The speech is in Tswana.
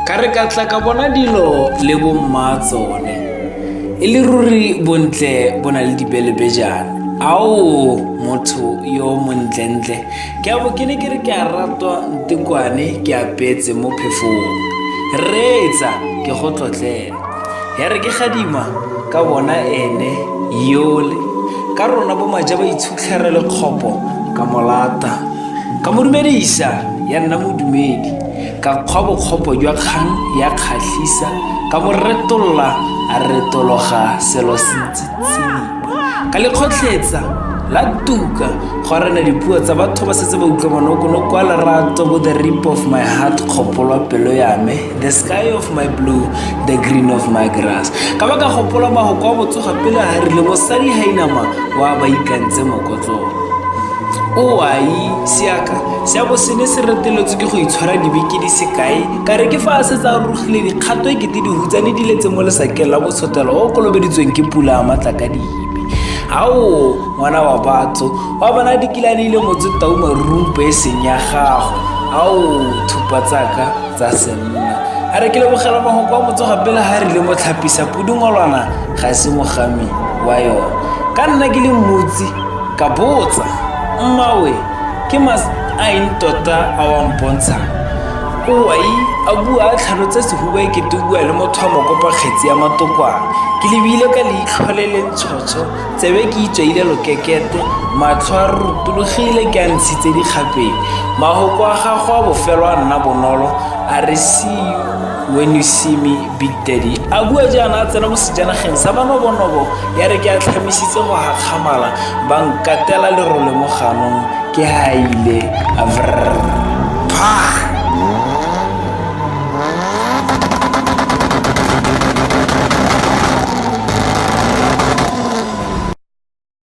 ka re ka tla ka bona dilo le bomma tsone e le ruri bontle bo na le dibelebejana ao motho yo montlentle ke abo ke ne ke re ke a ratwa ntekwane ke apetse mo phefong reetsa ke go tlotlela ya re ke gadima ka bona ene yole ka rona bo maja ba itshutlhere le kgopo ka molata ka mo dumedisa ya nna modumedi ka kgwa bokgopo jwa kgang ya kgatlhisa ka mo retolla a retologa selo se itsitseng ka lekgotlhetsa la tuka go arena dipuo tsa batho ba setse ba utlwa monokono kwa lerato bo the rip of my heart kgopolwa pelo ya me the sky of my blue the green of my grass ka ba ka gopola mago kwa botsoga pele a rile mosadi ga inama wa ba ikantse mokotlong oai seaka se a bo se ne se reteletswe ke go itshwara dibeke di sekae Ka re ke fa a setse a rurugile dikgato e kete dihutsane di letse mo lesakeng la botshotelo o kolobeditsweng ke pula a matla ka dibe ao ngwana wa batho wa bona dikilane ile motse tau marumpo e seng ya gago ao thupa tsaka tsa senna a re ke lebogela mahoko a motsoga pele ga rile mo tlhapisa pudungolwana ga se mogami wa yone ka nna ke le mmutsi ka botsa mmawe Ke mas a eng tota a wa mpontshang? Owai, a bua a tlhalotsa sehuba e kete o bua le motho wa mokopa kgetsi ya matokwana. Ke lebile ka leitlho le le ntshotsho, tsebe ke itswaile lokekete, matlho a rurutulogile ke a ntshitse dikgapeng. Mahoko a gago a bofelo a nna bonolo, a re see you when you see me big daddy a bua jaana a tsena mo sejanageng sa banobonobo ya re ke a tlhamisitse go gakgamala ba nkatela lerole mo ganong ke haile